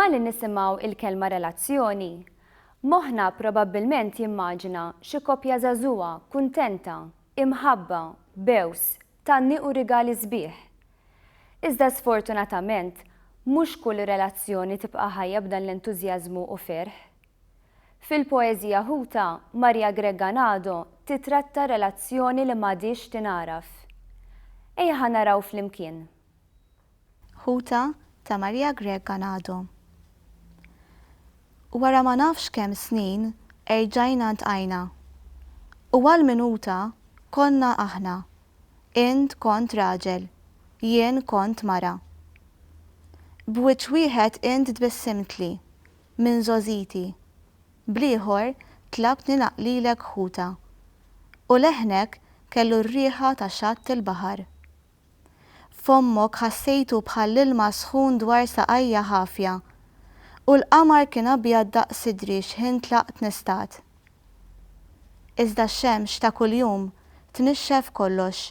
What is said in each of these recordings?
Malli nisimgħu il-kelma relazzjoni, moħħna probabbilment jimmaġina xi koppja żagħżugħa kuntenta, imħabba, b'għews, Tanni u rigali sbieħ. Iżda sfortunatament, mhux kull relazzjoni tibqa' ħajja b'dan l-entużjażmu u ferħ. Fil-poeżija ħuta, Maria Grega Nado titratta relazzjoni li m'għadhiex tingħaraf. Ejja ħa naraw flimkien. ħuta ta' Maria Grech Ganado. Wara ma nafx kemm snin erġajna ntqajna. U għal minuta konna aħna, int kont raġel, jien kont mara. B'wiċċ wieħed int tbissimtli, minn żgħożiti, bl-ieħor tlabtni naqlilek ħuta. U leħnek kellu r-riħa ta' xatt il-baħar. Fommok ħassejtu bħal ilma sħun dwar saqajja ħafja. U l-qamar kien abjad daqs sidri xħin tlaqt nistat. Iżda x-xemx ta' kuljum tnixxef kollox.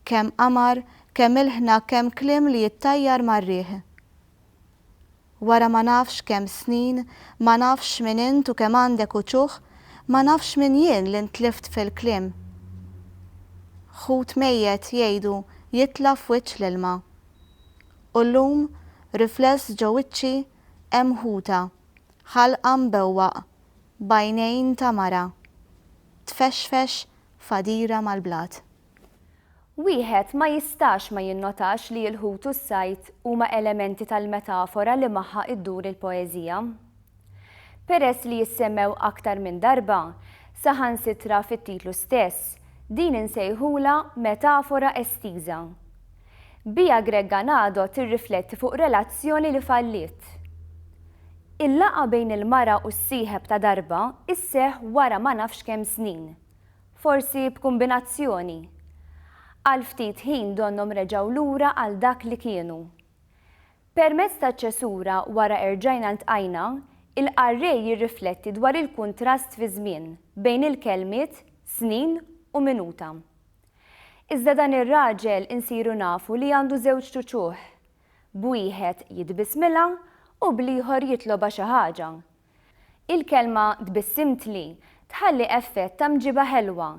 Kemm qamar, kemm ilħna kemm kliem li jittajjar mar-riħ. Wara ma nafx kemm snin, ma nafx min int u kemm għandek uċuħ, ma nafx min jien li ntlift fil-kliem. Ħut mejjet jgħidu jitla' f'wiċċ l-ilma. U llum, rifless ġo wiċċi, hemm ħuta, ħalqha mbewwaq, b'għajnejn ta' mara, tfexfex f'għadira mal-blat. Wieħed ma jistax ma jinnotax li l-ħut u s-sajd huma elementi tal-metafora li magħha ddur il-poeżija. Peress li jissemmew aktar minn darba, saħansitra fit-titlu stess, din insejħulha metafora estiża. Biha Greg Ganado tirrifletti fuq relazzjoni li falliet. Il-laqgħa bejn il-mara u s-sieħeb ta' darba sseħħ wara ma nafx kemm snin. Forsi b'kumbinazzjoni. Għal ftit ħin donnhom reġgħu lura għal dak li kienu. Permezz taċ-ċesura wara erġajna ltqajna, il-qarrej jirrifletti dwar il-kuntrast fiż-żmien bejn il-kelmiet snin u minuta. Iżda dan ir-raġel insiru nafu li għandu żewġ ċuċuh. B'wieħed jitbissmilha u bl-ieħor jitlobha xi ħaġa. Il-kelma tbissimtli tħalli effett ta' mġiba ħelwa.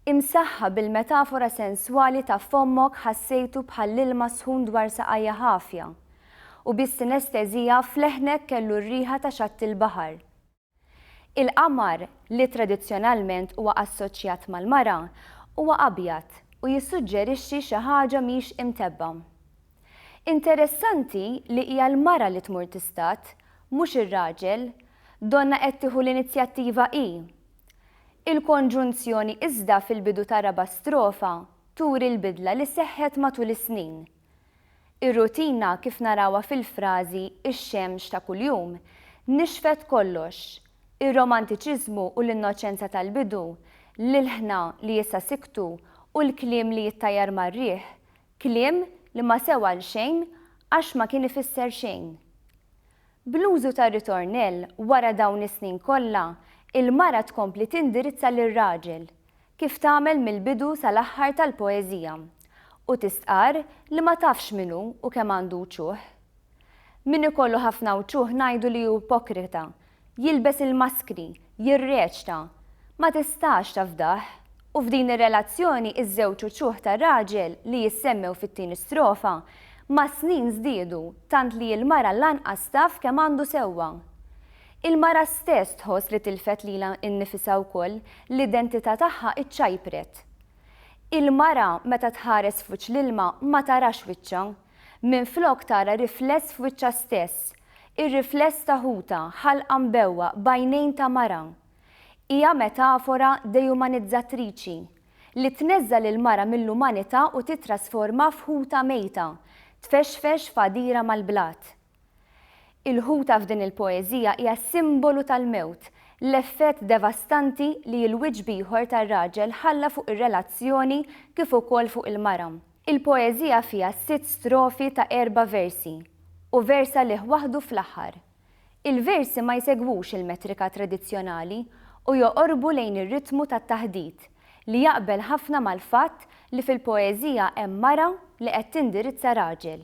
Imsaħħa bil-metafora senswali ta' fommok ħassejtu bħall-ilma sħun dwar saqajja ħafja, u bis-sinestesija f'leħnek kellu r-riħa ta' xatti l-baħar. Il-qamar, li tradizzjonalment huwa assoċjat mal-mara, huwa abjad u jissuġġerixxi xi ħaġa mhix imtebbgħa. Interessanti li hija l-mara li tmur tistad, mhux ir-raġel, donnha qed tieħu l-inizjattiva hi. Il-konġunzjoni iżda fil-bidu tar-raba' strofa turi l-bidla li seħħet matul is-snin. Ir-rutina kif narawha fil-frażi Ix-xemx ta' kuljum nixfet kollox, ir-romantiċiżmu u l-innoċenza tal-bidu, l-ilħna li issa siktu u l-kliem li jittajjar mar-riħ, Kliem li ma sew għal xejn għax ma kien ifisser xejn. Bl-użu tar-ritornell wara dawn is-snin kollha, il-mara tkompli tindirizza lir-raġel, kif tagħmel mill-bidu sal-aħħar tal-poeżija, u tistqarr li ma tafx min hu u kemm għandu uċuħ. Min ikollu ħafna wċuh ngħidu li hu ipokrita, jilbes il-maskri, jirreċta. Ma tistax tafdah. U f'din ir-relazzjoni iż-żewġ uċuh ta' raġel li jissemmew fit-tieni strofa mas-snin żdiedu tant li l-mara lanqas taf kemm għandu sewwa. Il-mara stess tħoss li tilfet lilha nnifisha wkoll, l-identità tagħha iċċajpret. Il-mara meta tħares f'wiċċ l-ilma ma tarax wiċċha, Minflok tara rifless f'wiċċha stess, ir-rifless ta' ħutha, ħalqa mbewwa, b'għajnejn ta' mara. Hija metafora dejumanizzatriċi, li tneżża' lill-mara mill-umanità u tittrasformha f'ħuta mejta, tfexfex f'għadira mal-blat. Il-ħuta f'din il-poeżija hija simbolu tal-mewt, l-effett devastanti li l-wiċċ b'ieħor tar-raġel ħalla fuq ir-relazzjoni kif ukoll fuq il-mara. Il-poeżija fiha sitt strofi ta' erba' versi, u vers għalih waħdu fl-aħħar. Il-versi ma jsegwux il-metrika tradizzjonali u joqorbu lejn ir-ritmu tat-taħdit, li jaqbel ħafna mal-fatt li fil-poeżija hemm mara li qed tindirizza raġel.